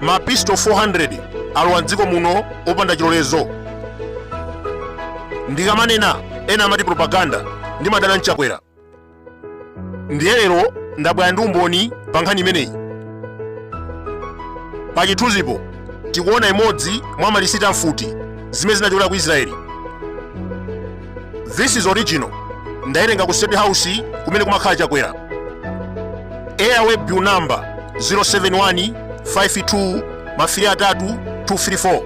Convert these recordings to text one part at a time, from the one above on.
mapisto 400 alowa mdziko muno opanda chilolezo ndikamanena ena amati propaganda ndimadana ndi chakwera ndiye lero ndabwera ndi umboni pa nkhani imeneyi pa chithunzipo tikuona imodzi mwa malisiti a mfuti zimene zinachokera ku israeli this is original ndayerenga ku state house kumene kumakhala chakwera airway bill number 07152 mafiri atatu 234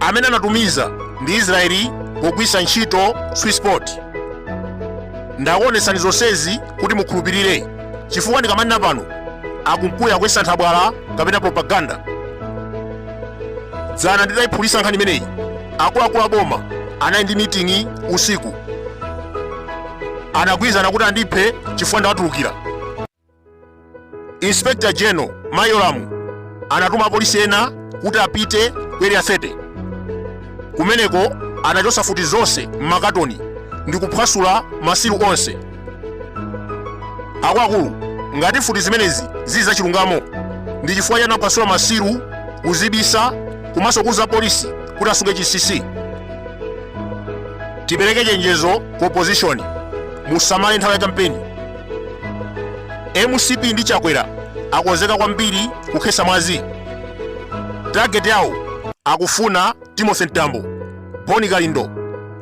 amene anatumiza ndi israeli pogwitsa ntchito swissport ndakuonetsani zonsezi kuti mukhulupirire chifukwa ndikamanena pano kukhala kuyesa nthabwala kapena propaganda dzana nditayiphulisa nkhani imeneyi akuluakulu aboma anali ndi miting'i usiku anagwirizana kuti andiphe chifukwa ndawatulukira Inspector General Ma Yolamu anatuma apolisi ena kuti apite ku area 30 kumeneko anachosa futi zonse m'makatoni ndi kuphwasula masilu onse akuluakulu ngati futi zimenezi zili zachilungamo ndi chifukwa chani anaphwasula masilu kuzibisa komanso kuuza apolisi kuti asunge chinsinsi tipereke chenjezo ku opposition musamale nthawi ya kampeni mcp ndi chakwera akonzeka kwambiri kukhesa mwazi target yawo akufuna timothy mtambo bon kalindo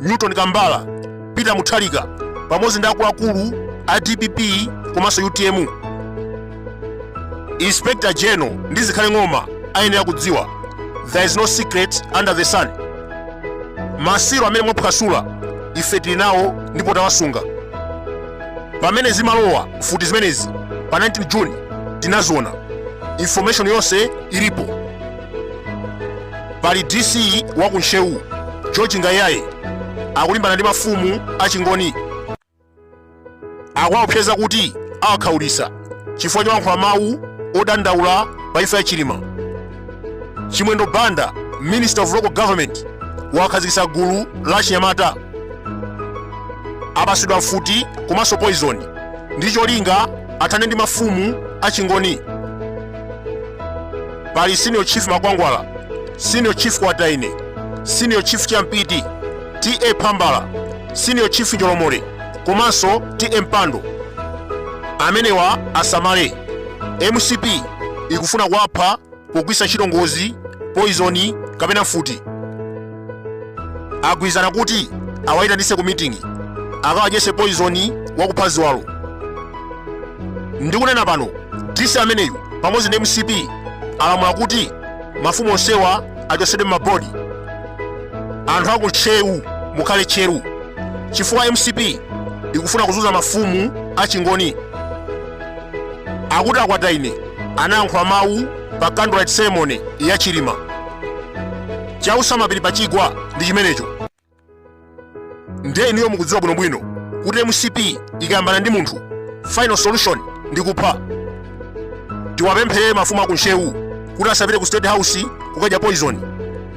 newton kambala peter mutharika pamodzi ndi akuluakulu a dpp komanso utm inspector general ndi zikhale ng'oma ayenera kudziwa there is no secret under the sun masilu amene mwaphwasula ife tili nawo ndipo tawasunga pamene zimalowa mfuti zimenezi pa 19 june tinaziona information yonse ilipo pali dc wa ku ntcheu george ngaiyaye akulimbana ndi mafumu achingoni akuwaopseza kuti awakhaulitsa chifukwa cholankhula mawu odandaula pa imfa ya chilima chimwendo banda minister of local government wakhazikitsa gulu la chinyamata apasidwa mfuti komanso poizoni ndi cholinga athane ndi mafumu achingoni pali senior chief makwangwala senior chief kwataine senior chief champiti ta phambala senior chief njolomole komanso ta mpando amenewa asamale mcp ikufuna kuwapha pogwisa ntchito ngozi poison kapena mfuti agwirizana kuti awayitanise ku meeting akawadyese poison wakupha ziwalo ndikunena pano dc ameneyu pamodzi ndi mcp alamula kuti mafumu onsewa achosedwe m'mabodi anthu aku ntcheu mukhale tcheru chifukwa mcp ikufuna kuzunza mafumu achingoni akuti akwataine anayankhula mawu pa candlelight ceremony ya chilima chautsa mapiri pa chigwa ndi chimenecho ndiye inuyo mukudziwa bwinobwino kuti mcp ikayambana ndi munthu final solution ndi kupha tiwapempherere mafumu aku ntcheu kuti asapite ku state house kukadya poison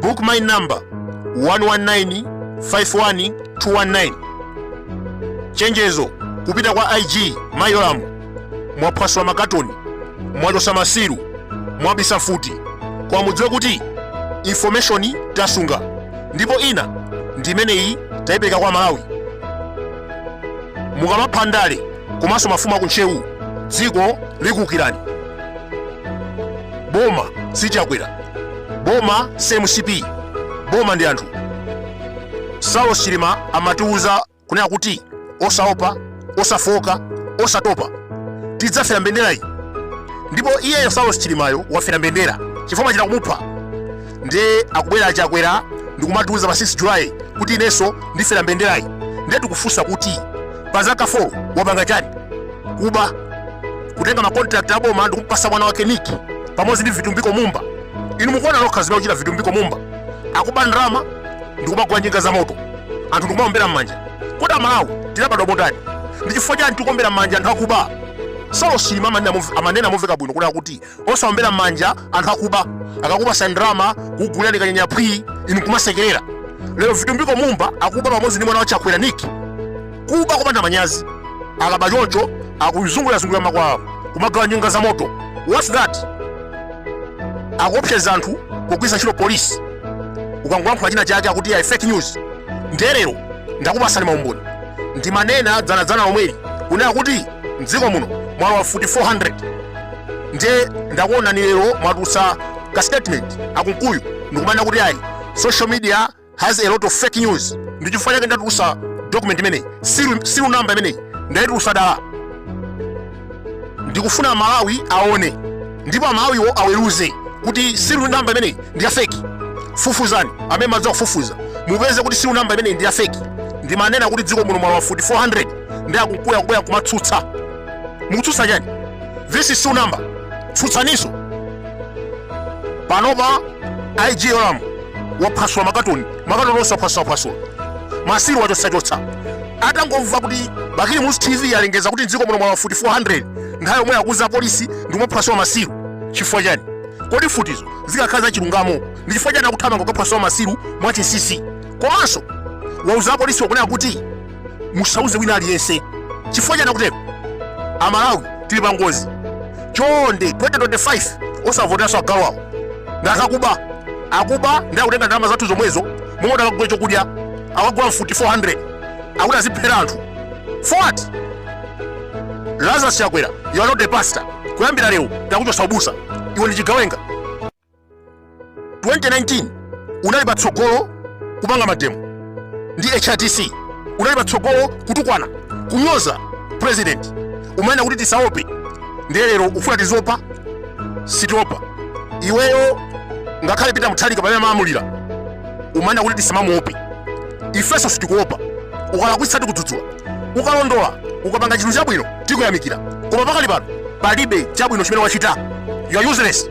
book me number 11951219 chenjezo kupita kwa ig mayolamu mwaphwasula makatoni mwachosa masiru mwabisa mfuti koma mudziwe kuti information tasunga ndipo ina ndi imeneyi tayipereka kwa amalawi mukamapha ndale komanso mafumu aku ntcheu dziko likuwukirani boma si chakwera boma si mcp boma ndi anthu saulos chilima amatiuza kunena kuti osaopa osafooka osatopa tidzafera mbenderayi ndipo iyeyo saulos chilimayo wafera mbendera chifukwa amachita kumupha ndiye akubwera achakwera ndikumatiuza pa 6 july kuti inenso ndifera mbenderayi ndiye tikufunsa kuti pa zaka 4 wapanga chani kuba kutenga makontrakt aboma ndikumpasa mwana wake nick pamodzi ndi vitumbiko mumba inu mukuona nokha zimene akuchita vitumbiko mumba akuba ndalama ndikumagula njinga za moto anthu ndikumaombera m'manja kodi amalawi tinabadwa motani ndi chifukwa chani tikuombera m'manja anthu akuba saulos chilima amanena momveka bwino kunena kuti osaombera m'manja anthu akuba akakupasa ndalama kugulirani kanyanya phwii inu kumasekerera lero vitumbiko mumba akuba pamodzi ndi mwana wa chakwera nick kuba kupanda manyazi akaba choncho akuzungulirazungulira makwawo kumagawa njinga za moto what's that akuopseza anthu kugwiritsa ntchito polisi ukangolankhula china chake akuti ayi fake news nde lero ndakupasani maumboni ndimanena dzanadzana lomweli kunena kuti mdziko muno mwalowa mfuti 400 ndiye ndakuonani lero mwatulutsa ka statement akunkuyu ndikumanena kuti ayi social media has a lot of fake news ndi chifukwa chake ndatulutsa document imeneyi siru siru namba imeneyi ndayitulutsa dala ndikufuna amalawi aone ndipo amalawiwo aweruze kuti siru namba imeneyi ndi ya fake fufuzani amene mumadziwa kufufuza mupeze kuti siru namba imeneyi ndi ya fake ndimanena kuti mdziko muno mwalowa mfuti 400 nde akunkuyu akubwera nkumatsutsa mukutsutsa chani this is siru namba tsutsaniso panopa ig yolamu waphwasula makatoni makatoni onse aphwasulaphwasula masiru wachotsachotsa atangomva kuti bakili muluzi tv alengeza kuti mdziko muno mwalowa mfuti 400 nthawi yomwe akuuza apolisi ndikumaphwasula masiru chifukwa chani kodi mfutizo zikakhala za chilungamo ndi chifukwa chani akuthamanga kukaphwasula masiru mwachinsinsi komanso wauza apolisi wakunena kuti musauze wina aliyense chifukwa chani akutero amalawi tili pa ngozi chonde 2025 osavoteranso agalu awo ndi akuba akuba ndi akutenga ndalama zathu zomwezo momwe akadagula chokudya akugula mfuti 400 akuti aziphera anthu for what lazarus chakwera you are not a pastor kuyambira lero takuchotsa ubusa iwe ndiwe chigawenga 2019 unali patsogolo kupanga mademo ndi hrdc unali patsogolo kutukwana kunyoza president umanena kuti tisaope ndiye lero ufuna tiziopa sitiopa iweyo ngakhale peter mutharika pamene amalamulira umanena kuti tisamamuope ifenso sitikuopa ukalakwitsa tikudzudzula ukalondola ukapanga chinthu chabwino tikuyamikira koma pakali pano palibe chabwino chimene wachita you are useless